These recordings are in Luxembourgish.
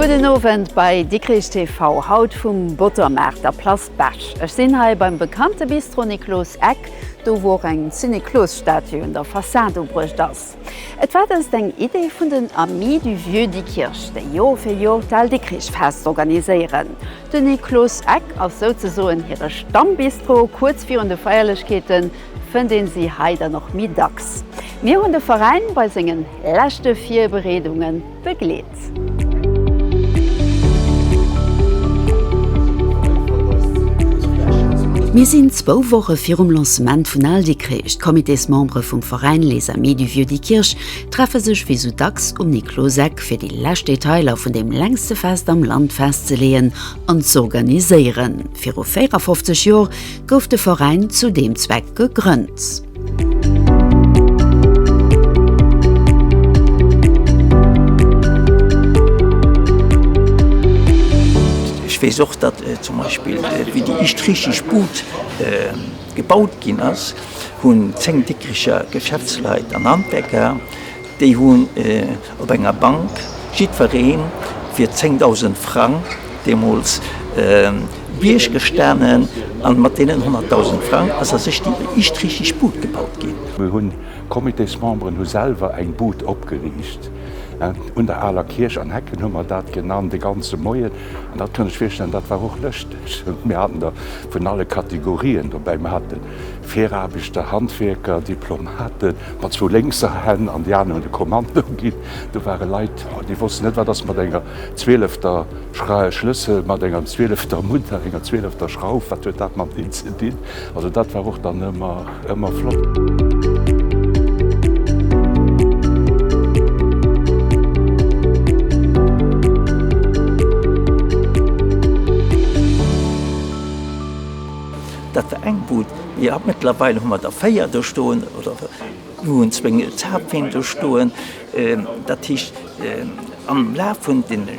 Gudden Owend bei Dikrich TV, haut vum Bottermaart, der Place Bech. Ech sinn hei beim bekannte Bistro Niklos Eck, do wou och eng Syniklos-Statue un der Fassad ubruecht ass. Fest. Et war dëst eng Idee vun den Amis du Vieux Diekirch, déi Joer fir Joer d'Al Dikrich Fest organiséieren. Den Niklos Eck ass souzesoen hire Stammbistro. Kuerz virun de Feierlechkeeten fënnt een si hei dann och méi dacks. Mir hunn de Veräin bei sengen leschte Virbereedungen begleet. Mir sinn zwou Woche virum Lancement vun Al Dikrich. D'Comitésmembere vum Veräin Les Amis du Vieux Dikrich treffe sech wéi sou dacks um Nikloseck, fir déi lescht Detailer vun deem längste Fest am Land festzeleeën an z'organiséieren. Viru 54 Joer gouf de Veräin zu deem Zweck gegrënnt. Ech weess och, datt zum Beispill wéi déi éischt richteg Bud gebaut ginn ass, hunn 10 Dikricher Geschäftsleit an Handwerker, déi hunn, Op enger Bank, jiddwereen wier 10.000 Frang deemools Bierg gestanen, an mat deenen 100.000 Frang ass a sech déi ischt richteg Bud gebaut ginn. Mir hunn, d'Comitésmemberen hu selwer eng Bud opgeriicht un der aler Kierch, an Hecken hu mer dat genannt, de ganze Moien. An dat kann ech virstellen, dat war och lëschteg. Mir haten der vun alle Kategorien dobäi. Mir haten Firaarbechter, Handwierker, Diplomaten, mat zwou lénkser Hänn, an déi aner hunn de Kommando ginn. Do ware Leit, déi wossten net, wat ass mat enger zwielefter Schlëssel, mat enger zwielefter Munter, enger zwielefter Schrauf, wat huet dat mat deem ze dinn? Also dat war och dann ëmmer flott. Dat war eng Bud. Jo, mëttlerweil hu mer der véier do stoen oder mir hunn zwéin Zapfeen do stoen. Dat heescht, am Laf vun deene,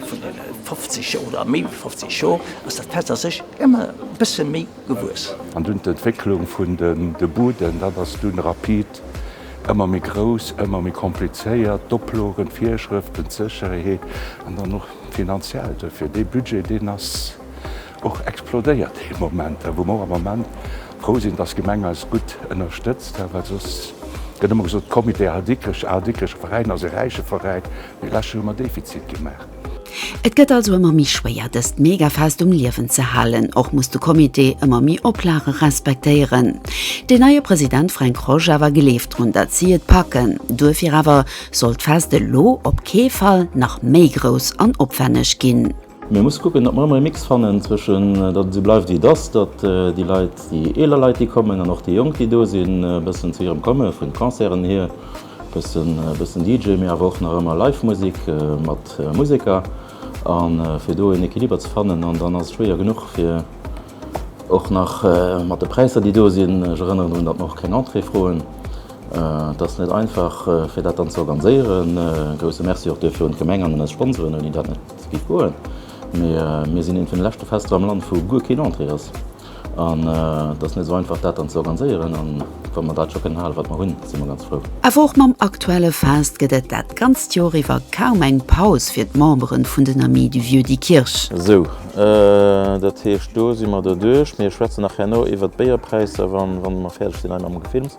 vun deene 50 Joer oder méi wéi 50 Joer ass dat Fest a sech ëmmer e bësse méi gewuess. An dunn d'Entwécklung vun de Buden, dat ass dunn rapid ëmmer méi grouss, ëmmer méi komplizéiert, d'Oplogen, d'Virschrëften, d'Sécherheet an dann och d'Finanziellt duerfir. Dee Budget, deen ass Och explodéiert dee Moment, wou mer och am Ament frou sinn, dass d'Gemeng eis gutt ënnerstëtzt, well soss gëtt ëmmer gesot, komm, Idee Al Dikrech, Al Dikrecher Veräin ass e räiche Veräin, mee lescht Joer hu mer Defizit gemaach. Et gëtt also ëmmer méi schwéier, dëst Megafest um Liewen ze halen. Och muss de Comité ëmmer méi Oplage respektéieren. Deen neie President Fränk Rosch awer gleeft drun, datt si et packen. Duerfir awer soll d'Fest elo op kee Fall nach méi grouss an opwänneg ginn. Mir musse kucken, datt mer ëmmer e Mix fannen zwëschen, datt et esou bleift wéi et ass, datt déi Leit, déi eeler Leit, déi kommen an och déi Jonk, déi do sinn, e bëssen zu hirem Komme vun Concerten hier, e bëssen DJ, mee awer och nach ëmmer live Musek mat Museker. A fir do en Equiliber ze fannen, an dann ass et schwéier genuch fir och nach mat de Präisser, déi do sinn, ech erënneren drun, datt mer och keng Entrée froen, et ass net einfach fir dat dann ze organiséieren. E grousse Merci och duerfir un d'Gemeng an un eis Sponsoren, ouni dat net. Et geet guer, mee mir sinn eent vun de leschte Fester am Land wou guer keen Entrée ass. An et ass net esou einfach dat dann ze organiséieren. An wa mer dat scho kënnen hale wat mer hunn, si mer ganz frou. Awer och mam aktuelle Fest gëtt et dat ganzt Joer iwwer kaum eng Paus fir d'Memberen vun den Amis du Vieux Diekirch. Sou, dat heescht do si mer derduerch. Mir schwätzen nach herno iwwer d'Béierpräisser wann mer fäerdeg sinn hei mam Gefilms.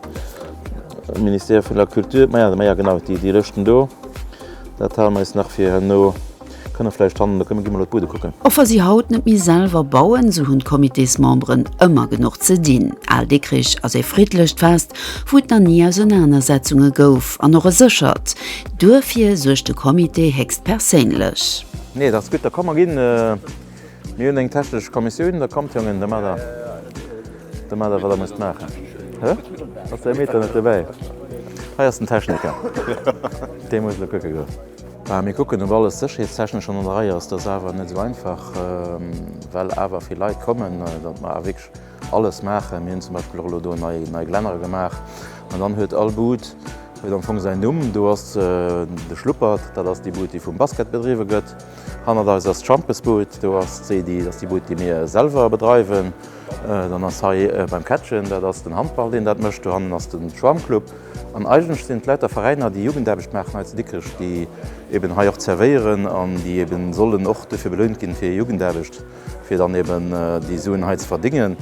Ministère vun der Culture, maja, maja genau, déi Lëschten do. Dat halen mer eis nach fir herno. Kënne vläicht hannen, da kënne gi mol op d'Bude kucken. Och wa si haut net méi selwer bauen, esou hunn d'Comitésmemberen ëmmer genuch ze dinn. Al Dikrich ass ee friddlecht Fest, wou et nach ni Ausenanersetzunge gouf, an och e séchert. Duerfir suergt de Comité héchstperséinlech. Nee, dat ass gutt, da komm mer ginn. Mir hunn eng technesch Kommissioun, da kommt Jongen, da maacht Der, da maacht Der wat Der musst maachen. Hä? Ass däi Meter net dobäi? Hei ass den Techniker, dee muss elo kucke goen. Mä mir kucken, ob alles sécherheetstechnesch an der Rei ass. Dat ass awer net esou einfach, well awer vill Leit kommen, datt mer awer wierklech alles maachen. Mir hunn zum Beispill och elo do nei, nei Glänner gemaach. An dann huet all Bud huet am Fong säin Numm. Do ass de Schluppert, dat ass déi Bud, déi vum Basket bedriwwe gëtt. Hannert eis ass d'Schampesbud. Do ass d'Sedi, dat ass déi Bud, déi mir selwer bedreiwen. Dann ass hei beim Kättchen, dat ass den Handball, deen dat mécht. Dohannen ass de Schwammclub. An eigentlech sinn et lauter Veräiner, déi Jugendaarbecht maachen hei zu Dikrech, déi eeben hei och zerwéieren an déi eeben sollen och dofir belount ginn, fir hir Jugendaarbecht, fir dann eeben déi Suen hei ze verdingen.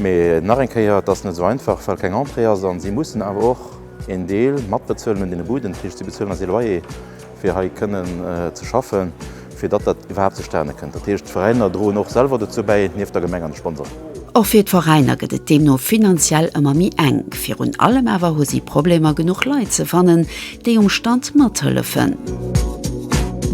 Mee nach eng Kéier, et ass net esou einfach, well keng Entrée ass. A si mussen awer och een Deel matbezuelen un deene Buden, tëscht si bezuelen och ee Loyer. fir hei kënnen ze schaffen, fir datt dat iwwerhaapt zustane kënnt. Dat heescht, d'Veräiner droen och selwer dozou bäi, nieft der Gemeng an de Sponsoren. Och fir d'Veräiner gëtt et deemno finanziell ëmmer méi enk. Virun allem awer hu si Problemer, genuch Leit ze fannen, déi um Stand mathëllefen.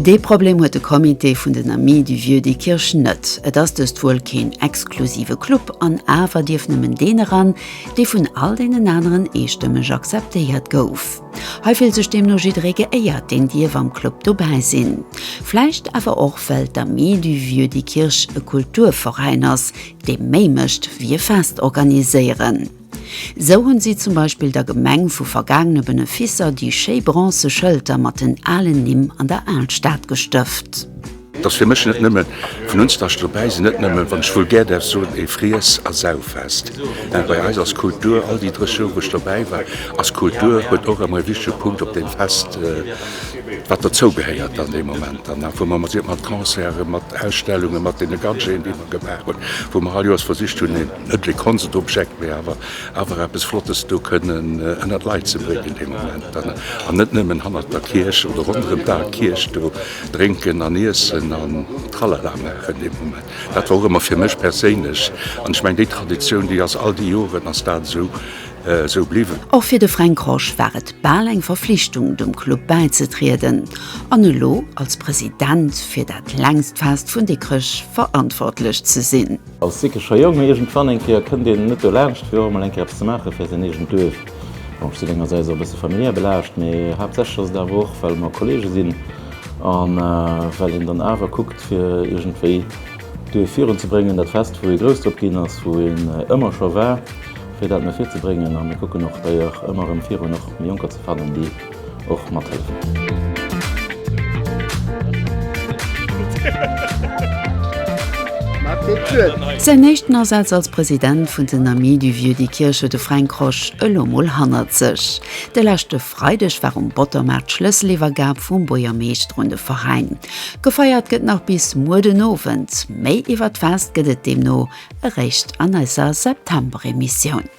Dee Problem huet de Comité vun den Amis du Vieux Diekirch net. Et ass dëst wuel keen exklusive Club an awer dierf nëmmen deen eran, dee vun all deenen aneren eestëmmeg akzeptéiert gouf. Hei fillt sech deemno jidderee geéiert, deen dierf am Club dobäi sinn. Vläicht awer och well d'Amis du Vieux Dikkirch e Kulturveräin ass, dee méi mécht wéi e Fest organiséieren. Sou hunn si zum Beispill der Gemeng vu vergaangene Beneficer déi schéi bronze Schëlter mat den alen Nimm an der Alstad gestëft. Et ass fir mech net nëmme vun unztach dobäi sinn, net nëmme, wann ech vulgär däerf soen, ee Friess a Sauffest. Bei eis ass Kultur, all déi 30 Joer wou ech dobäi war, ass Kultur, huet och ëmmer ee wichtege Punkt op deem Fest, wat derzou gehéiert an deem Moment dann nach, wou mer mat mat Concerten, mat Ausstellungen, mat deene Gadgeten déi mer gemaach hunn, wou mer all Joers versicht hunn een, net ee Konstobjekt, mee awer awer eppes Flottes do kënnen ënnert d'Leit ze bréngen deem Moment dann, an net nëmmen hannert der Kierch oder ronderëm d'Al Kierch do. Drénken an Iessen an Tralala maachen dee Moment. Dat war och ëmmer fir mech perséinlech, an ech mengen déi Traditioun, déi ass all déi Joren ass dat esou esou bliwwen. Och fir de Fränk Rosch war et bal eng Verflichtung, dem Club bäizetrieden, an elo als President fir dat längst Fest vun Dikrech verantwortlech ze sinn. Als Dikkerscher Jong, mee iergendwann eng Kéier kënnt een net dolaanscht fir och emol eng Kéier eppes ze maache fir säin eegent Duerf. Bon, ech sinn engersäits och e bësse familiär belaascht, mee haaptsächlech ass et awer och, well mer Kolleege sinn a well een dann awer kuckt fir iergendwéi d'Duerf virun ze bréngen, dat Fest wou ee grouss drop ginn ass, wou een ëmmer scho war fir dat no vir ze bréngen. A mir kucken och dei Jach ëmmer erëm virun och méi Jonker ze fannen, déi och mathëllefen. Säin éischten Asaz als President vun den Amis du Vieux de Kirch huet de Fränk Rosch elo mol hannert sech. De leschte Freideg war um Bottermaart d'Schlësseliwwergab vum Buergermeeschter un de Veräin. Gefeiert gëtt nach bis muer den Owend. Méi iwwer d'Fest gëtt et deemno Eréischt an eiser September-Emissioun.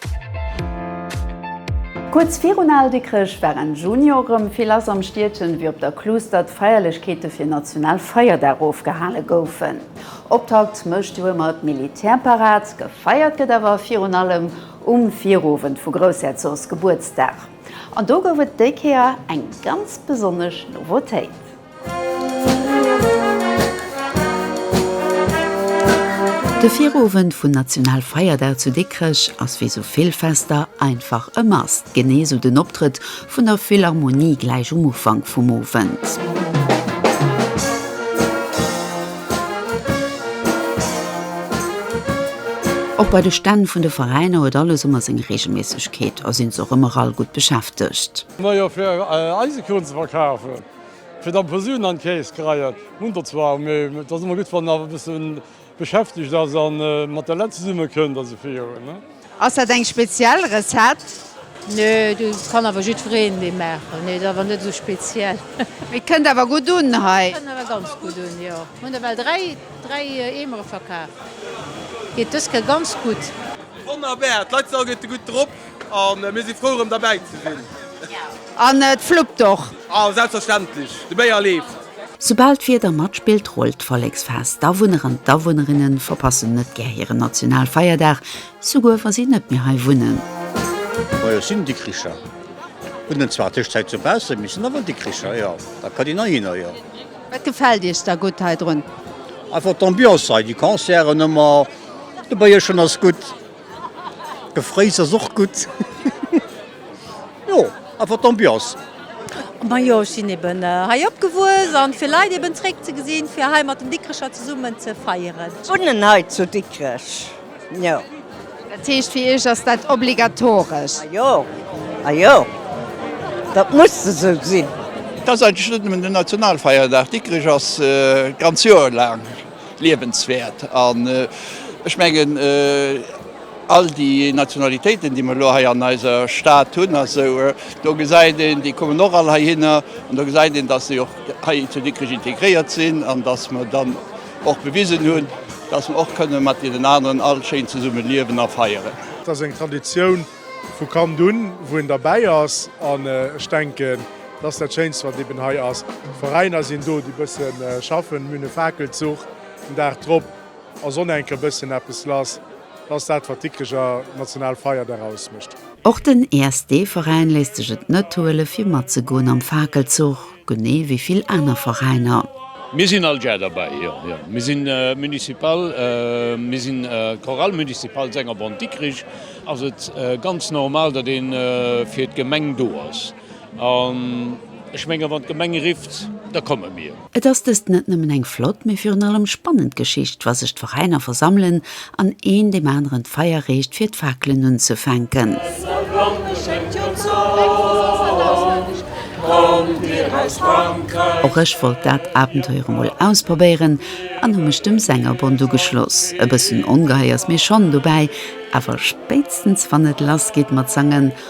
Kuerz virun Al Dikkrech war Enn Juni och erëm vill lass am Stiedchen, ewéi op der Kluuster d'Feierlechkeete fir Nationalfeierdag ofgehale goufen. Optakt mécht jo ëmmer d'Militärparad, gefeiert gëtt awer virun allem um Virowend vu Groussherzogs Gebuertsdag. An do gouf et déi Kéier eng ganz besonnesch Novotéit. De Virowend vun Nationalfeierdag zu Dikrech ass wéi sou vill Fester einfach e Must, genee sou den Optrëtt vun der Philharmonie gläich um Ufank vum Owend. Och bei de Stänn vun de Veräiner huet alles ëmmer seng Reegelméissegkeet a sinn se och ëmmer all gutt beschäftegt. Nei Affaire, Eisekrunn ze verkafen! Fir dann Posulen an Käes kreien hun der zwar, mee et ass emmer gudd wann e bessen beschäftegt ass an mat der Lett zesummen kënnt a sou virun. Ass dat eng speziell Recette? Nee, dat kann awer jiddwereen déi maachen. Nee, dat ass awer net esou speziell. Et kënnt awer gutt un hei. Et kënnt awer ganz gutt un, jo. Mir hunn ewell dräi, dräi Eemere verkaf. Geet dës Kéier ganz gutt. Wonnerbar, d'Leit sou gëtt e gutt drop. An mir si frou erëm derbäi ze sinn. An et fluppt och. A selbstverständlech, de Béier leeft. Soubal d'Wieder matspillt, rullt d'Volleksfest. D'Awunner an d'Awunnerinne verpassen net gär hiren Nationalfeierdag, souguer wa si net méi hei wunnen. Moi, ech sinn Dikricher. Hunn en zwar Tëschzäit zu Baussem, mee sinn awer Dikricher, jo. Da kann een heihinner, jo. Wat gefält Iech da gutt heidrun? Einfach d'Ambiance hei, déi Concerten ëmmer, de Bëierchen ass gutt. De Fréis ass och gutt. Jo, einfach d'Ambiance. Majo, ech sinn eben hei opgewuess an fir Leit eben zréck ze gesinn, fir hei mat den Dikrecher zesummen ze feieren. Wunnen hei zu Dikrech, jo. Dat heescht, fir Iech ass dat obligatoresch? Majo, majo, dat muss esou sinn. Dat ass eigentlech net nëmmen den Nationalfeierdag. Dikrech ass d'ganz Joer laang. liewenswäert. An ech mengen, all déi Nationalitéiten, déi mer elo hei an eiser Stad hunn, also do gesäit een, déi kommen och all heihinner an do gesäit een, datt se och hei zu Dikrech integréiert sinn an datt mer dann och bewisen hunn, datt mer och kënnen mat deenen aneren all schéin zesumme liewen a feieren. Et ass eng Traditioun, Vu Kand un, wou en derbäi ass, an ech denken, dat ass dat Schéinst, wat eben hei ass. Veräiner sinn do, déi e bësse schaffen. Mir hunn e Fakelzuch den Dag drop a Sonnenk e bëssen eppes lass. Dat ass dat, wat d'Dikricher national Feierdag ausmécht. Och den ESD-Veräin léisst sech et net huele fir matzegoen am Fakelzuch. Genee wéi vill aner Veräiner. Mir sinn all Jär derbäi, jo, jo. Mir si municipal, mir sinn Chorale municipale Sengerbond Dikrich, ass et ganz normal, datt ee fir d'Gemeng do ass. An ech menge wann d'Gemeng rifft, da komme mir. Et ass dëst net nëmmen eng flott, mee virun allem spannend Geschicht, wa sech d'Veräiner versammelen An een deem aneren d'Feier reecht fir d'Fakelen unzefänken. Och ech wollt dat Abenteuer emol ausprobéieren an hu mech dem Sängerbond ugeschloss. E bëssen ongehei ass mir schonn dobäi, awer spéitstens wann et lass geet mat sangen,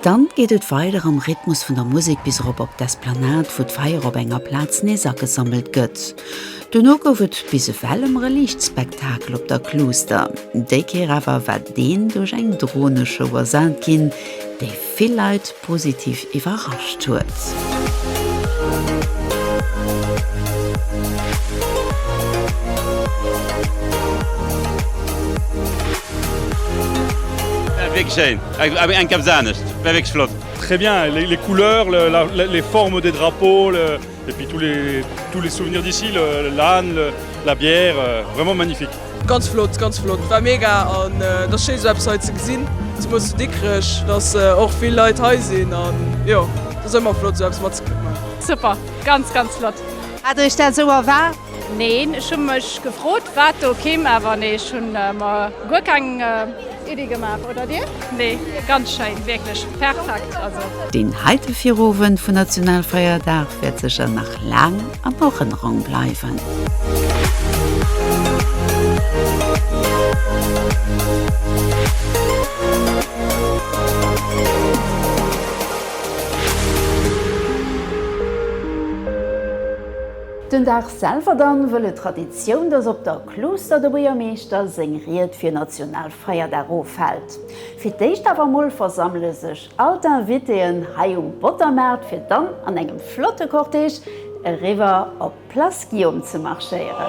Dann geet et weider am Rhythmus vun der Musek bis erop op d'Esplanade wou d'Feier op enger Plaz nees agesammelt gëtt. Duerno gouf et bis ewell ëm re Liichtspektakel op der Kluuster. Déi Kéier awer war deen duerch eng Droneshow ersat ginn, déi vill Leit positiv iwwerrascht huet. Eng Keps anescht wär wierklech flott. Très bien, les couleurs, les formes des drapeaux et puis tous les tous les souvenirs d'ici, l'âne, la bière, vraiment magnifique. Ganz flott, ganz flott, war mega an et ass schéi esou eppes hei ze gesinn, zemools zu Dikrech, datt och vill Leit hei sinn an jo, et ass ëmmer flott esou eppes matzekritt. Super, ganz ganz flott! Hat der iech dat esou erwaart? Neen, ech hu mech gefrot wat do kimm, awer nee ech hunn mer guer keng Iddi gemaach. Oder dir? Nee, ganz schéin, wierklech perfekt. Deen heite Virowend vun Nationalfeierdag wäert sécher nach laang an Erënnerung bleiwen. Den Dag selwer dann wëll et Traditioun, dass op der Klooster de Buergermeeschter seng Ried fir Nationalfeierdag ofhält. Fir d'éischt awer mol versammele sech all d'Invitéen hei um Bottermaart fir dann an engem flotte Cortège eriwwer op d'Place Guillaume ze marschéieren.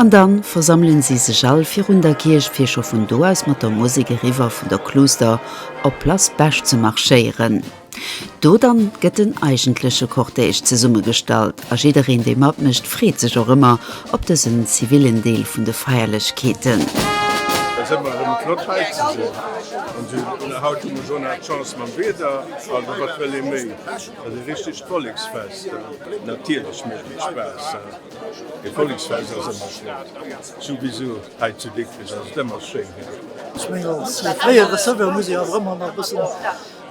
An dann versammelen sie sech all virun der Kierch fir scho vun do aus mat der Musik eriwwer vun der Kluuster op Place Bech ze marschéieren. Do dann gëtt den eigentleche Cortège zesummegestallt a jiddereen dee matmécht freet sech och ëmmer op dësen zivillen Deel vun de Feierlechkeeten. Et ass ëmmer erëm flott hei ze sinn an haut hu mer scho nach Chance mam Wieder, also wat wëll ee méi? Et ass e richtegt Volleksfest, natierlech mécht et Spaass. E Volleksfest ass ëmmer schéin, souwisou hei zu Dikrech ass et ëmmer schéin hei. Ech mengen als fréiere Serveur muss ee awer ëmmer nach e bëssen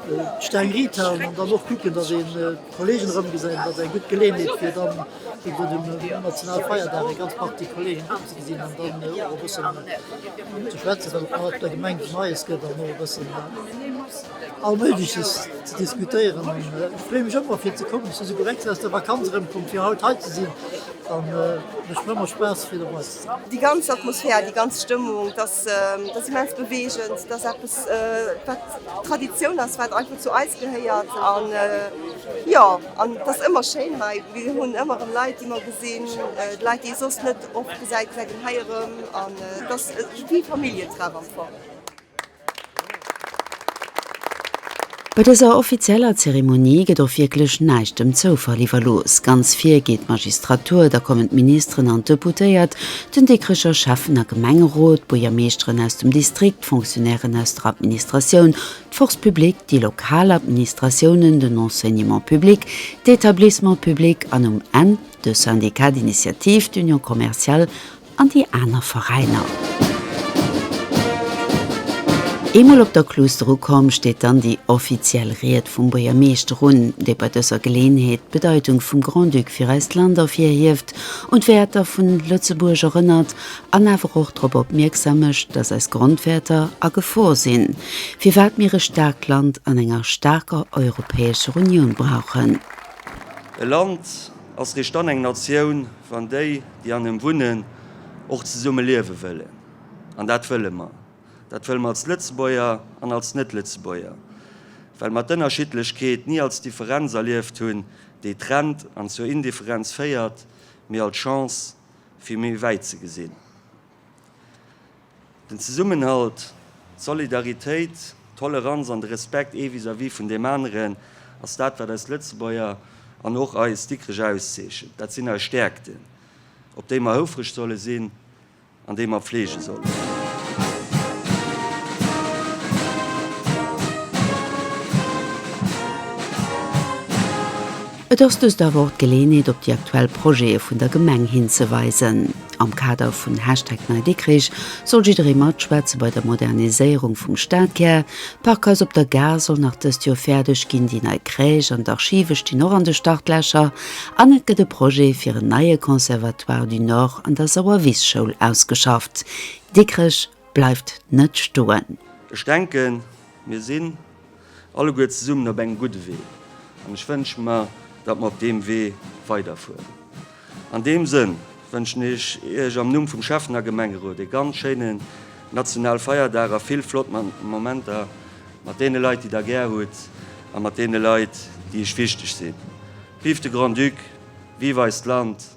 d'Steng riit halen an dann och kucken, datt een d'Kollegen erëmgesäit. Et ass eng gutt Geleenheet fir dann iwwer dem Nationalfeierdag eng ganz Partie Kollegen erëmzegesinn an dann och e bëssen ze schwätzen, well et nach op der Gemeng Neies gëtt an och e bëssen, all Méigleches ze diskutéieren an ech freeë mech ëmmer fir ze kommen, ech si souguer extra aus der Vakanz erëmkomm fir haut hei ze sinn an et mécht mer ëmmer Spaass fir dobei ze sinn. Déi ganz Atmosphär, déi ganz Stëmmung, et ass immens beweegend, et ass eppes wat Traditioun ass, wat einfach zu eis gehéiert an jo an et ass ëmmer schéin hei, mir hunn ëmmer erëm Leit déi mer gesinn, Leit déi ee soss net oft gesäit, gesäit een hei erëm an et ass wéi e Familljen-Treff am Fong. Bei dëser offizieller Zeremonie gëtt och wierklech näischt dem Zoufall iwwerlooss. Ganz vir geet d'Magistratur, da kommen d'Ministeren an d'Deputéiert, den Dikricher Schäffen a Gemengerot, d'Buergermeeschteren aus dem Distrikt, d'Fonctionnairen aus der Administratioun, d'Force publique, déi lokal Administratiounen, den Enseignement public, d'Etablissements publics an um Enn de Syndicat d'initiative, d'Union commerciale. an déi aner Veräiner. Eemol op der Kluuster ukomm, steet dann déi offiziell Ried vum Buergermeeschter un, dee bei dëser Geleeënheet d'Bedeitung vum Grand-Duc fir eist Land ervirhieft un d'Wäerter vun Lëtzebuerg erënnert an awer och drop opmierksam mécht, datt eis Grondwäerter a Gefor sinn, firwat mir e staarkt Land an enger staarker Europäescher Unioun brauchen. E Land ass richt dann eng Natioun, wann déi déi an engem wunnen, och zesumme liewe wëllen. An dat wëlle mer. Dat wëlle mer als Lëtzebuerger an als Net-Lëtzebuerger, well mer d'Ënnerschiddlechkeet ni als Differenz erlieft hunn, déi trennt an zur Indifferenz féiert, mee als Chance, fir méi wäit ze gesinn. Den Zesummenhalt, d'Solidaritéit, d'Toleranz an de Respekt ee vis-à-vis vun deem aneren, ass dat, wat eis Lëtzebuerger an och eis Dikrech auszeechent. Dat sinn eis Stäerkten, op déi mer houfreg solle sinn an déi mer pflege sollen. Et ass dëst awer och d'Geleeënheet op déi aktuell Projete vun der Gemeng hinzeweisen. Am Kader vun Hashtag NeiDikrich soll jidderee matschwätze bei der Moderniséierung vum Stadkär. D'Parkhaus op der Gare soll nach dëst Joer fäerdeg ginn, déi nei Crèche an d'Archive stinn och an de Startlächer an et gëtt e Projet fir en neie Conservatoire du Nord an der Sauerwisschoul ausgeschafft. Dikrech bleift net stoen. Ech denken, mir sinn. alleguer zesummen op engem gudde Wee. An ech wënsche mer, datt mer op deem Wee weiderfueren. An deem Sënn wënschen ech Iech am Numm vum Scheffener Gemengerot ee ganz schéinen nationale Feierdag a vill flott Momenter mat deene Leit, déi Der gär hutt a mat deene Leit, déi Iech wichteg sinn. Vive de Grand-Duc! Vive eist Land!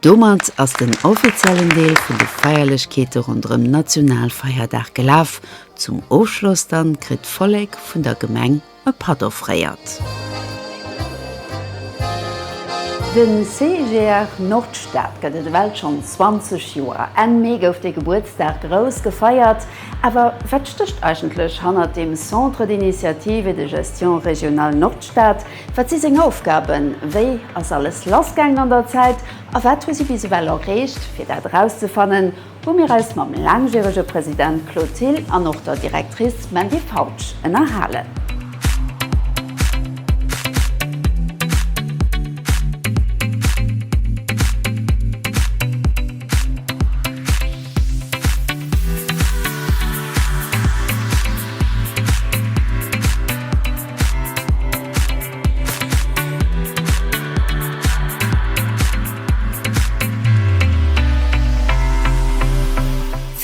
Domat ass den offiziellen Deel vun de Feierlechkeete ronderëm Nationalfeierdag gelaf. Zum Ofschloss dann kritt d'Vollek vun der Gemeng e Patt offréiert. De CGR Nordstad gëtt et ewell schonn 20 Joer. Enn Mee gouf dee Gebuertsdag grouss gefeiert. Awer wat stécht eigentlech hannert dem Centre d'Initiative et de Gestion Régionale Nordstad? Wat si seng Aufgaben? Wéi ass alles lassgaangen an der Zäit a wat hu si bis ewell erreecht? Fir dat erauszefannen, hu mir eis mam laangjärege President Claude Thill an och der Directrice Mandy Fautsch ënnerhalen.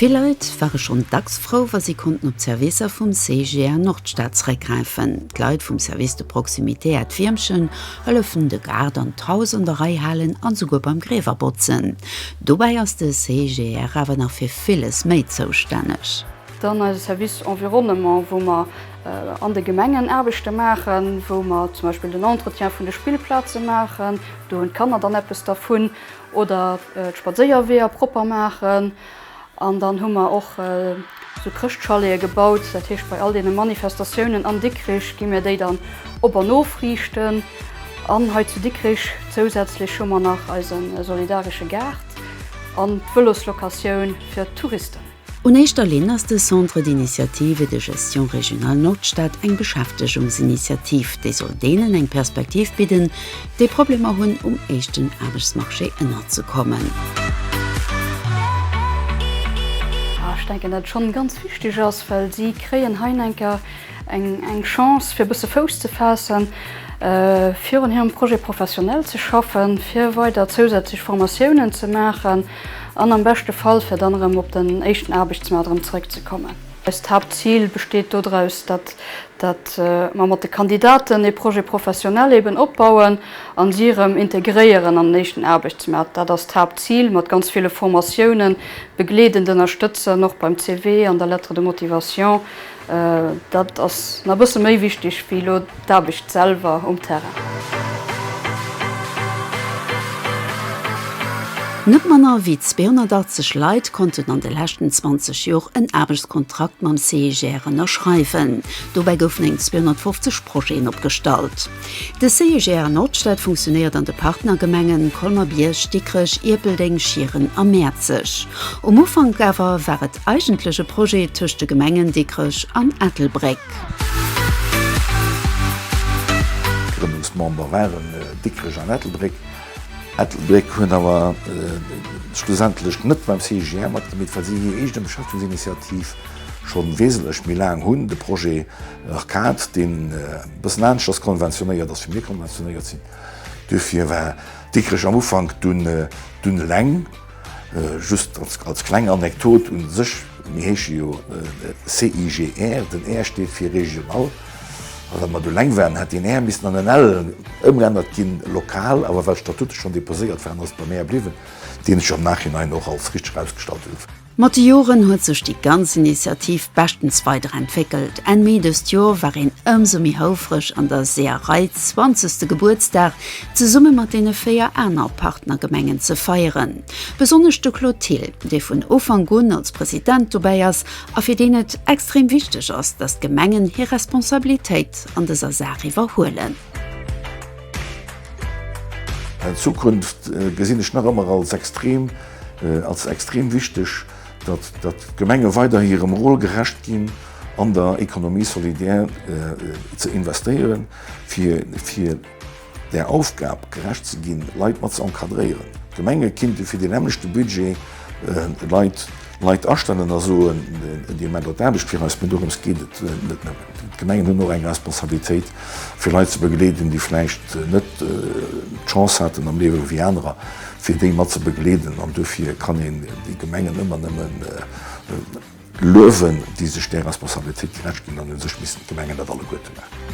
Vill Leit ware schonn dacks frou, wa si konnten op d'Servicer vum CGA Nordstad zeréckgräifen. D'Leit vum Service de proximité Äert Wiermchen hëllefen de Gaart an d'Haus an der Rei halen an esouguer beim Griewer botzen. Dobäi ass de CGR awer nach fir villes méi zoustänneg. Dann eise Service Environnement, wou mer an de Gemengen Aarbechte maachen, wou mer zum Beispill den Entretien vun de Spillplaze maachen, do hunn d'Kanner dann eppes dervun, oder d'Spadséierweeër propper maachen. An dann hu mer och esou Chrëschtchalete gebaut, dat heescht bei all deene Manifestatiounen an Dikrich gi mir déi dann op an ofriichten. An hei zu Dikrich zousätzlech hu mer nach eise solidaresche Gaart an d'Vëloslocatioun fir d'Touristen. Un éischter Linn ass de Centre d'initiative et de gestion régionale Nordstad eng Beschäftegungsinitiativ, déi soll deenen eng Perspektiv bidden, déi Problemer hunn, um éischten Aarbechtsmarché ënnerzekommen. A ech denken, datt et schonn ganz wichteg ass, well si kréien heienker eng Chance, fir e bësse Fouss ze faassen, fir un hirem Projet professionnel ze schaffen, fir weider zousätzlech Formatiounen ze maachen. An am beschte Fall fir dann erëm op den éischten Aarbechtsmaart erëm zeréckzekommen. Eist Haaptzil besteet dodraus, datt mer mat de Kandidaten ee Projet professionnel eben opbauen a si erëm integréieren an den éischten Aarbechtsmaart. Dat ass d'Haaptzil, mat ganz ville Formatiounen begleedend ënnerstëtzen, och beim CV an der Lettre de motivation, Dat ass na e bësse méi wichteg wéi elo d'Aarbecht selwer um Terrain. Net manner wéi 280 Leit konnten an de leschten 20 Jor en Aarbechtskontrakt mam CIGR ënnerschreiwen. Dobäi goufen eng 250 Projeten opgestallt. De CIGR Nordstad funktionéiert an de Partnergemengen Colmer-Bierg, Dikrech, Ierpeldeng, Schieren a Mäerzeg. Um Ufank awer war et Eigentlech e Projet tëscht de Gemengen Dikrech an Ettelbréck. Grënnungsmember waren Dikrech an Ettelbréck. Ettelbréck huet awer schlussendlech net beim CIGR matgemitt, well si hir eegen Beschäftigungsinitiativ scho wesentlech méi laang hunn. De Projet Arcade, deen e bëssen anescht ass konventionéiert ass, wéi mir konventionéiert sinn. Duerfir war Dikrech am Ufank dunn eleng. Just als kleng Anekdot, u sech, mir heesche jo CIGR, den R steet fir regional. A wa mer do eleng waren, hätt deen R missen an en L ëmgeännert ginn, lokal. Awer well d'Statute schonn deposéiert waren, ass et beim R bliwwen, deen sech am Nachhinein och als richteg erausgestallt huet. Mat de Joren huet sech déi ganz Initiativ beschtens weider entwéckelt. Enn Mee dëst Joer war een ëmsou méi houfreg, an der Seeërei zwanzegste Gebuertsdag zesumme mat deene véier aner Partnergemengen ze feieren. Besonnesch de Claude Thill, dee vun Ufank un als President dobäi ass a fir deen et extrem wichteg ass, datt d'Gemengen hir Responsabilitéit an dëser Saach iwwerhuelen. D'Zukunft gesinn ech nach ëmmer als extrem, als extrem wichteg, datt, datt d'Gemenge weiderhi hirem Rôle gerecht ginn, an der Économie solidaire ze investéieren, fir, fir. Där Aufgab gerecht ze ginn, Leit mat ze encadréieren. D'Gemenge kinnte fir dee nämmlechte Budget Leit Leit astellen a soen, Dir maacht Leit Aarbecht fir eis. Mä dorëms geet et net nëmmen. D'Gemengen hunn och eng Responsabilitéit, fir Leit ze begleeden, déi vläicht net d'Chance haten am Liewe wéi anerer, fir déi mat ze begleeden. An dofir kann een déi Gemengen ëmmer nëmmen. Luewen, déi sech där Responsabilitéit gerecht ginn an un sech missten d'Gemengen dat alleguerte maachen.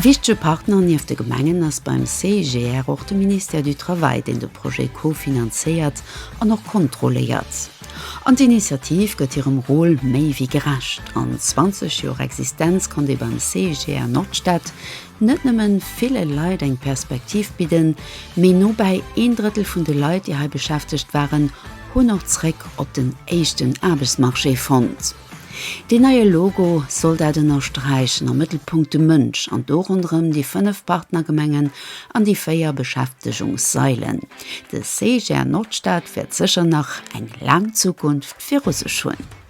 Wichtege Partner nieft de Gemengen ass beim CIGR och de Ministère du Travail, deen de Projet co-finanzéiert an och kontrolléiert. An d'Initiativ gëtt hirem Rôle méi wéi gerecht. An 20 Joer Existenz konnt ee beim CIGR Nordstad, net nëmmen ville Leit eng Perspektiv bidden, mee nobäi een Drëttel vun de Leit, déi hei beschäftegt waren, hunn och zréck op den éischten Aarbechtsmarché fonnt. Deen neie Logo soll dat ënnersträichen, am Mëttelpunkt de Mënsch an do ronderëm déi fënnef Partnergemengen an déi véier Beschäftegungssailen. De CGR Nordstad wäert sécher nach eng laang Zukunft viru sech hunn.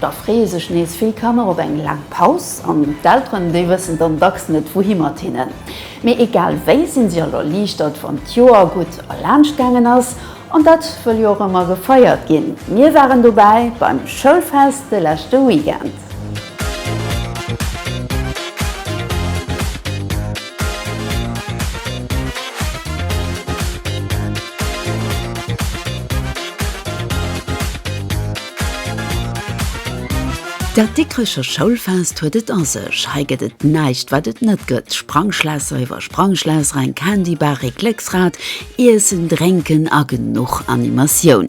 Da freeë sech nees vill Kanner op eng laang Paus an d'Elteren, déi wëssen dann dacks net wouhi mat hinnen. Mee egal wéi sinn si all erliichtert, wann d'Joer gutt erlaanscht gaangen ass. An dat wëll jo och ëmmer gefeiert ginn. Mir waren dobäi beim Schoulfest de leschte Weekend. Dat Dikrecher Schoulfest huet et a sech, hei gëtt et näischt wat et net gëtt, Sprangschlässer iwwer Sprangschlässer, eng Candy Bar, Récklécksrad, Iessen, Drénken a genuch Animatioun.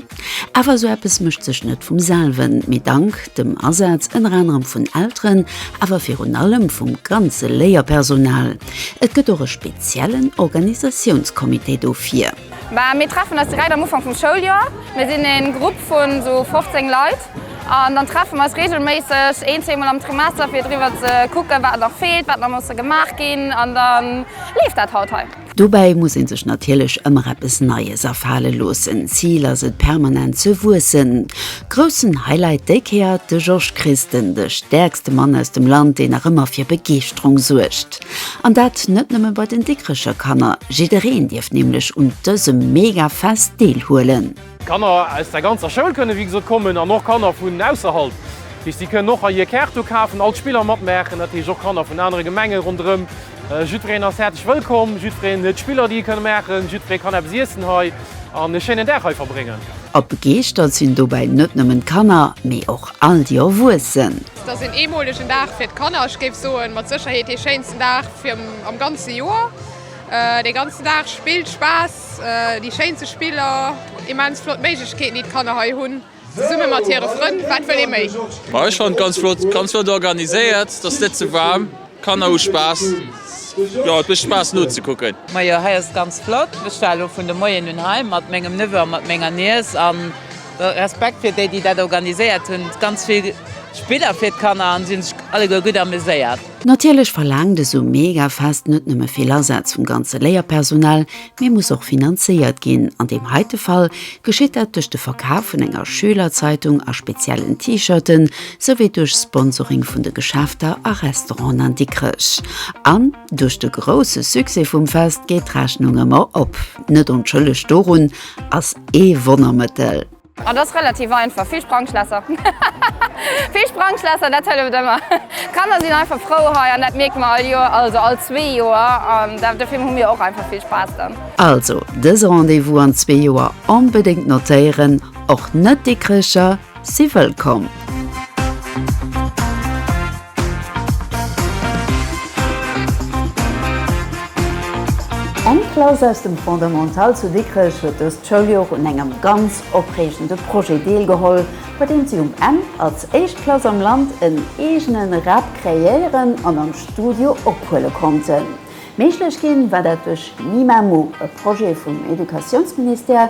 Awer esou eppes mécht sech net vum selwen, mee dank dem Asaz ënner anerem vun Elteren, awer virun allem vum ganze Léierpersonal. Et gëtt och e speziellen Organisatiounscomité dofir. Mä mir treffen eis direkt am Ufank vum Schouljoer. Mir sinn e Grupp vu sou 15 Leit an dann treffe mer eis reegelméisseg een, zweemol am Trimester fir driwwer ze kucken, wat nach feelt, wat nach musse gemaach ginn an da leeft dat haut hei. Dobäi muss ee sech natierlech ëmmer eppes Neies afale loossen. Zil ass et permanent ze wuessen. Groussen Highlight déi Kéier, de Georges Christen, de stäerkste Mann aus dem Land, deen nach ëmmer fir Begeeschterung suergt. An dat net nëmme bei den Dikrecher Kanner, jiddereen dierf nämlech un dësem mega Fest deel huelen. Kanner aus der ganzer Schoul kënne wéi gesot kommen an och Kanner vun ausserhalb. Heescht si kënnen och hei hir Kaart do kafen, all d'Spiller matmaachen, dat heescht och Kanner vun anere Gemenge ronderëm. Jiddwereen ass häerzlech wëllkomm, jiddwereen huet Spiller déi e kënne maachen, jiddweree kann eppes iessen hei an e schéinen Dag hei verbréngen. A begeeschtert sinn dobäi net nëmmen d'Kanner, mee och all déi Erwuessen. Et ass een eemolegen Dag fir d'Kanner, ech géif soen, mat Sécherheet dee schéinsten Dag am ganze Joer. Dee ganzen Dag Spill, Spaass, déi schéinste Spiller, immens flott Méiglechkeeten, déi d'Kanner hei hunn, zesumme mat hire Frënn. Wat wëll ee méi? Ech fannen et ganz flott, ganz flott organiséiert. Et ass net ze waarm. Kanner hu Spaass, jo et mécht Spaass nozekucken. Majo hei ass et ganz flott, ech war elo vun de Moien un hei mat mengem Neveu a mat menger Niess an Respekt fir déi déi dat organiséiert hunn, ganz vill Spiller fir d'Kanner an si hunn sech alleguer gutt ameséiert. Natierlech verlaangt esou Megafest net nëmme vill Asaz vum ganze Léierpersonal, mee muss och finanzéiert ginn. An deem heite Fall geschitt dat duerch de Verkaf vun enger Schülerzeitung a speziellen T-Shirten, souwéi duerch Sponsoring vun de Geschäfter a Restauranten an Dikrech. An duerch de grousse Succès vum Fest geet d'Rechnung ëmmer op. Net onschëlleg dorun ass ee Wonnermëttel. Et ass relativ einfach, vill Sprangschlässer. Vill Sprangschlässer, dat hëlleft ëmmer. D'Kanner sinn einfach frou hei an dat mierke mer all Joer, also all zwee Joer. An dofir hu mir och einfach vill Spaass dann. Also dëse Rendez-vous an zwee Joer onbedéngt notéieren, och net-Dikricher si wëllkomm! Eng Klass aus dem Fondamental zu Dikrech huet dëst Schouljoer un engem ganz opreegende Projet deelgeholl, bei deem si um Enn als éischt Klass am Land en eegene Rap kreéieren an am Studio ophuele konnten. Méiglech ginn war dat duerch Mimamo, e Projet vum Educatiounsministère,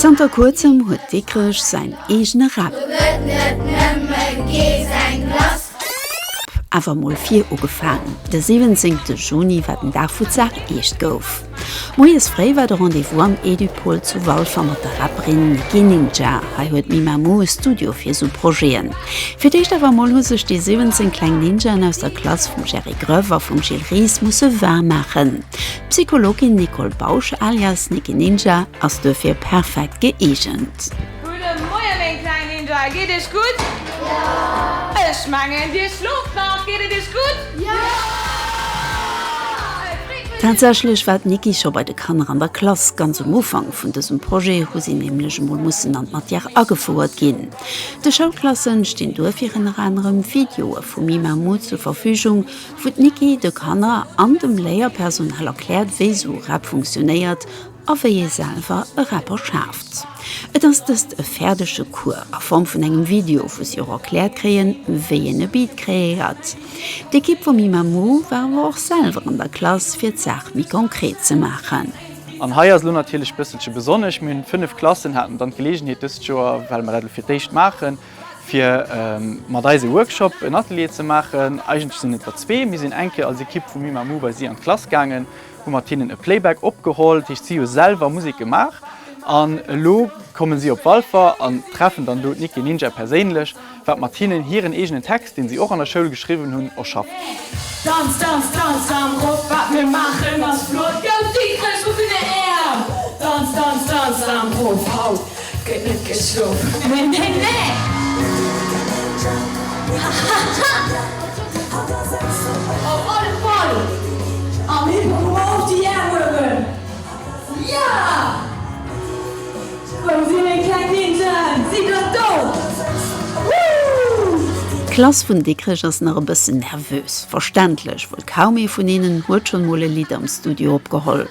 Zanter kuerzem huet Dikrech säin eegene Rap. Awer mol vir ugefaangen. De siwwenzéngte Juni war den Dag wou d'Saach eescht gouf. Moies fréi war de Rendez-vous am Edupol zu Walfer mat der Rapperin Nicki Ninja. Hei huet Mimamou e Studio fir sou Projeten. Fir d'éischt awer mol hu sech déi 17 kleng Ninjaen aus der Klass vum Jerry Gröf a vum Gilles Ries musse war maachen. D'Psychologin Nicole Bausch alias Nicky Ninja ass duerfir perfekt gëeegent. Gudde Moien meng kleng Ninja, geet iech gutt? Jo! Ech mengen dir schlooft nach, geet et iech gutt? Jo! Tatsächlech war d'Nicky scho bei de Kanner an der Klass, ganz um Ufank vun dësem Projet hu si nämlech emol mussen an d'Matière agefouert ginn. De Schoulklasse stinn duerfir ënner anerem Videoe vu Mimamou zur Verfügung, wou d'Niki de Kanner an dem Léierpersonal erkläert, wéi esou Rap funktionéiert a wéi ee selwer e Rapper schaaft. Et ass dëst e fäerdege Cours a Form vun engem Video, wou si och erkläert kréien, wéi een e Beat kreéiert. D'Ekipp vum Imamu war awer och selwer an der Klass, fir d'Saach méi konkret ze maachen. An hei ass elo natierlech e bësselche besonnesch, mir hunn 5 Klassen haten dann d'Geleegenheet dëst Joer, well mer dat elo fir d'éischt maachen, fir mat eis e Workshop, en Atelier ze maachen. Eigentlech sinn et der zwee. Mir sinn eng Kéier als Ekipp vu Mimamoo bei si an d'Klass gaangen, hu mat hinnen e Playback opgeholl, dat heescht si hu selwer Musek gemaach. An elo komme si op Walfer an treffen dann do d'Nicky Ninja perséinlech, wat mat hinnen hiren eegenen Text, deen si och an der Schoul geschriwwen hunn, erschafft. Et gëtt net geschlof. Neen, neen, neen! Op alle Fall am Hypermall déi Är huewen. Jo! Wou si meng kleng Ninjaen? Si bleift do! Woo! D'Klass vun Dikrech ass nach e bëssen nervös. Verständlech, wuel kaum ee vun hinnen huet schonn mol e Lidd am Studio opgeholl.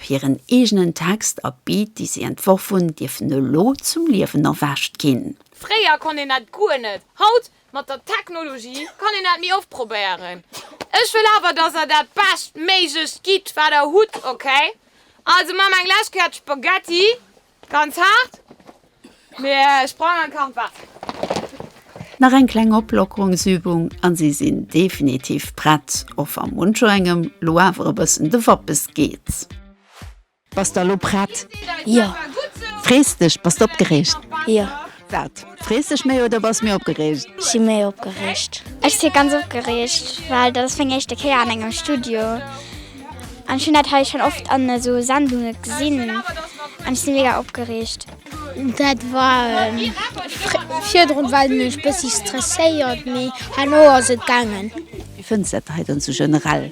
Hiren eegenen Text a Beat, déi si entworf hunn, dierfen elo zum Liewen erwächt ginn. Fréier konnt een dat guer net. Haut, mat der Technologie, kann een dat méi oft probéieren. Ech wëll awer, dass der dat beschtméiglecht gitt, wat der hutt, okay? Also maache mer eng lescht Kéier d'Spaghetti. Ganz haart, mee ech brauch nach kalt Waasser. Nach eng kleng Oplockerungsübung an si sinn definitiv prett, och wa muncher engem lo awer e bëssen de Wappes geet. Bass der lo prett? Jo. Frees dech? Bass d'opgereegt? Jo. Wat? Frees dech méi oder bass méi opgereegt? Ech si méi opgereegt. Ech si ganz opgereegt, well dat ass meng éischte Kéier an engem Studio. An ech hunn dat hei schonn oft an esou Sendunge gesinn an ech si mega opgereegt. Dat war virdrun war et mech e bëssi stresséiert, mee herno ass et gaangen. Wéi fënns de dat hei dann esou generell?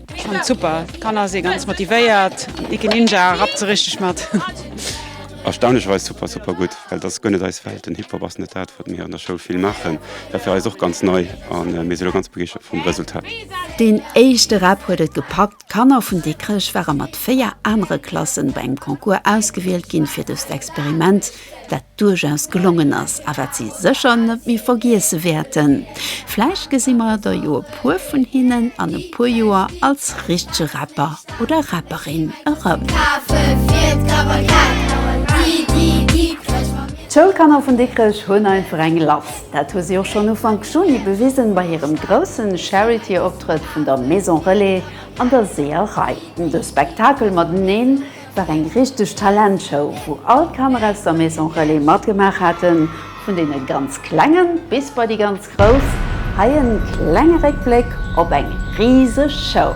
Ech fand super Kanner se ganz motivéiert Icke Ninja rap ze richteg mat. Erstaunlecherweis super super gutt, well dat ass guer net eis Welt. Den Hip-Hop ass net dat, wat mir an der Schoul vill maachen. Dat war fir eis och ganz nei a mir si lo ganz begeeschtert vum Resultat. Deen éischte Rap huet et gepackt, D'Kanner vun Dikrech ware mat véier anere Klassen bei engem Concours ausgewielt ginn fir dëst Experiment. wat duerchaus gelongen ass a wat si sécher net méi vergiesse wäerten. Vläicht gesi mer der jo e puer vun hinnen an e puer Joer als richtege Rapper oder Rapperin erëm. D'Schoulkanner vun Dikrech hunn einfach eng lass. Dat hu si och schonn Ufank Juni bewisen bei hirem groussen Charity-Optrëtt vun der Maison Relais an der Seeërei. De Spektakel mateneen Et war eng richteg Talentshow, wou all d'Kanner aus der Maison Relais matgemaach haten, vun deene ganz Klengen bis bei déi ganz Grouss. Hei en klenge Réckbléck op eng riseg Show.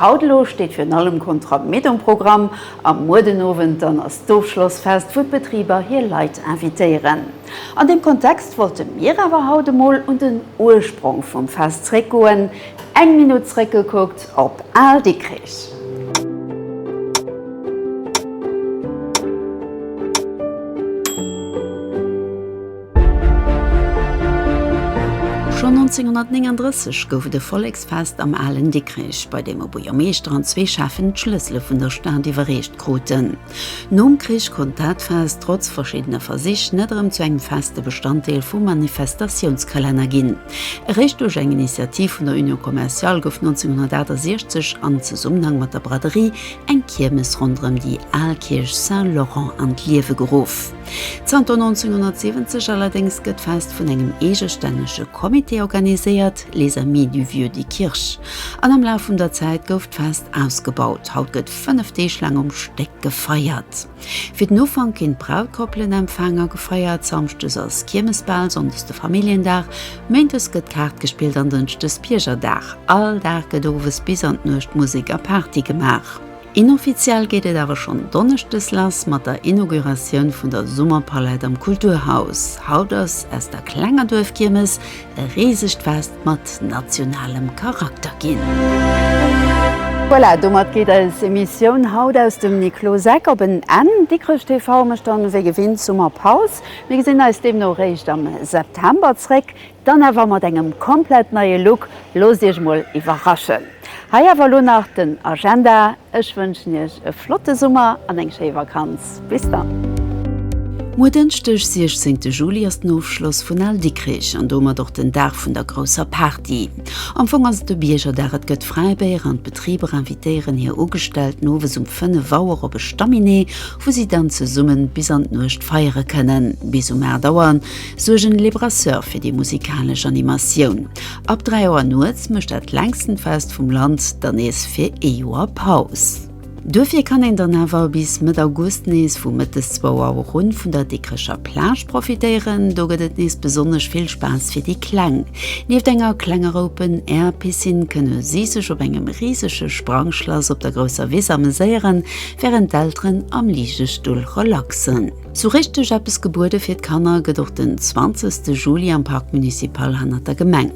Haut elo steet virun allem Contrat Med um Programm a muer den Owend dann ass d'Ofschlossfest, wou d'Betriber hir Leit invitéieren. An deem Kontext wollte mir awer haut emol un den Ursprong vum Fest zréckgoen, eng Minutt zréckgekuckt op Al Dikrich. Schonn 1939 gouf et e Volleksfest am alen Dikrech, bei deem e Buergermeeschter an zwee Schäffen d'Schlëssele vun der Stad iwwerreecht kruten. Nom Krich konnt dat Fest, trotz verschiddene Versich, net erëm zu engem feste Bestanddeel vum Manifestatiounskalenner ginn. Eréischt duerch eng Initiativ vun der Union Commerciale gouf 1968 an Zesummenhang mat der Braderie eng Kiermes ronderëm déi al Kierch Saint-Laurent an d'Liewe geruff. Zanter 1970 allerdéngs gëtt d'Fest vun engem eegestännege Comité organiséiert, Les Amis du Vieux de Kirch, an am Laf vun der Zäit gouf d'Fest ausgebaut. Haut gëtt fënnef Deeg laang um Stéck gefeiert. Fir den Ufank ginn d'Brautkoppelen empfaang a gefeiert. Samschdes ass Kiermesbal, sonndes de Familljendag, méindes gëtt Kaart gespillt an dënschdes Biergerdag. All Dag gëtt owes bis an d'Nuecht Musek a Party gemaach. Inoffiziell geet et awer schonn donneschdes lass mat der Inauguratioun vun der Summerpalette am Kulturhaus. Haut ass aus der klenger Duerfkiermes e risegt Fest mat nationalem Charakter ginn. Voilà, domat geet eis Emissioun haut aus dem Nikloseck op en Enn. Dikrech TV mécht dann wéi gewinnt Summerpaus. Mir gesinn eis deemno réischt am September zréck. Dann awer mat engem komplett neie Look, loosst Iech mol iwwerraschen. Hei awer elo nach den Agenda, ech wënschen Iech e flotte Summer an eng schéi Vakanz. Bis dann. Muer Dënschdeg 16 Juli ass den Ofschloss vun Al Dikkrich an domat och den Dag vun der grousser Party. Am Fong ass et e Biergerdag, et gëtt Fräibéier an d'Betriber invitéieren hir Ugestellten owes um 5 Auer op e Staminee, wou si dann zesummen bis an d'Nuecht feiere kënnen. Bis um 8 Auer Suergen Les Brasseurs fir déi musikalesch Animatioun. Ab 3 Auer nuets mécht dat längsten Fest vum Land dann nees fir ee Joer Paus. Duerfir kann een dann awer bis Mëtt August nees vu Mëttes 2 Auer un vun der Dikrecher Plage profitéieren. Do gëtt et nees besonnesch vill Spaass fir déi Kleng. Nieft enger klengerer Open Air Piscine kënne si sech op engem risege Sprangschlass op der grousser Wiss ameséieren, wärend d'Elteren am Ligestull relaxen. Sou richteg eppes gebuede fir d'Kanner gëtt och den 20 de Juli am Parc Municipal hannert der Gemeng.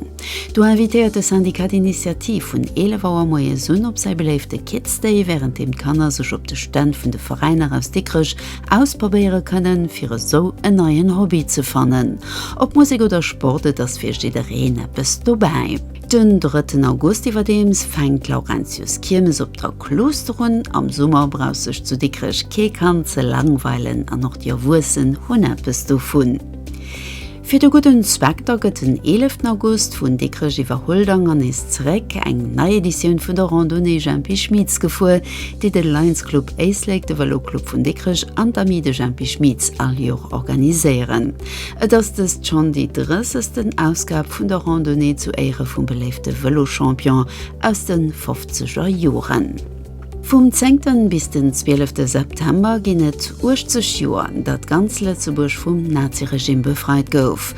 Do invitéiert de Syndicat d'Initiative vun 11 Auer moies un op säi beléifte Kids Day, wärend deem d'Kanner sech op de Stänn vun de Veräiner aus Dikrech ausprobéiere kënnen, fir esou en neien Hobby ze fannen. Ob Musek oder Sport, et ass fir jiddereen eppes dobäi. Den drëtten August iwwerdeems fänkt d'Laurentiuskiermes op der Klooster un. Am Summer brauch sech zu Dikrech kee Kand ze langweilen an och déi Erwuessen hunn eppes dovun. Fir de gudden Zweck da gëtt den eeleften August vun Dikrech iwwer Huldang an nees zeréck eng nei Editioun vun der Randonnée Jempi Schmitz gefuer, déi de Lions Club Éislek, de Vëloclub vun Dikrech an d'Amis de Jempi Schmitz all Joer organiséieren. Et ass dëst schonn déi drëssegsten Ausgab vun der Randonnée zu Éiere vum beléifte Vëlochampion aus de fofzeger Joren. Vum zéngten bis den zwielefte September ginn et 80 Joer, datt ganz Lëtzebuerg vum Naziregimm befreit gouf.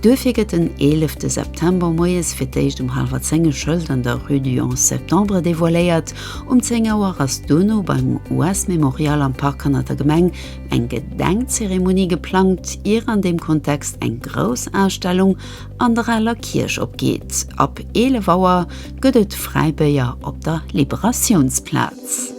Duerfir gëtt den eelefte September moies fir d'éischt um hallwer zéng e Schëld an der Rue du 11 Septembre devoiléiert. Um zéng Auer ass duerno beim US-Memorial am Park hannert der Gemeng eng Gedenkzeremonie geplangt, ier an deem Kontext eng grouss Ausstellung an der Aler Kierch opgeet. Ab 11 Auer gëtt et Fräibéier op der Liberatiounsplaz.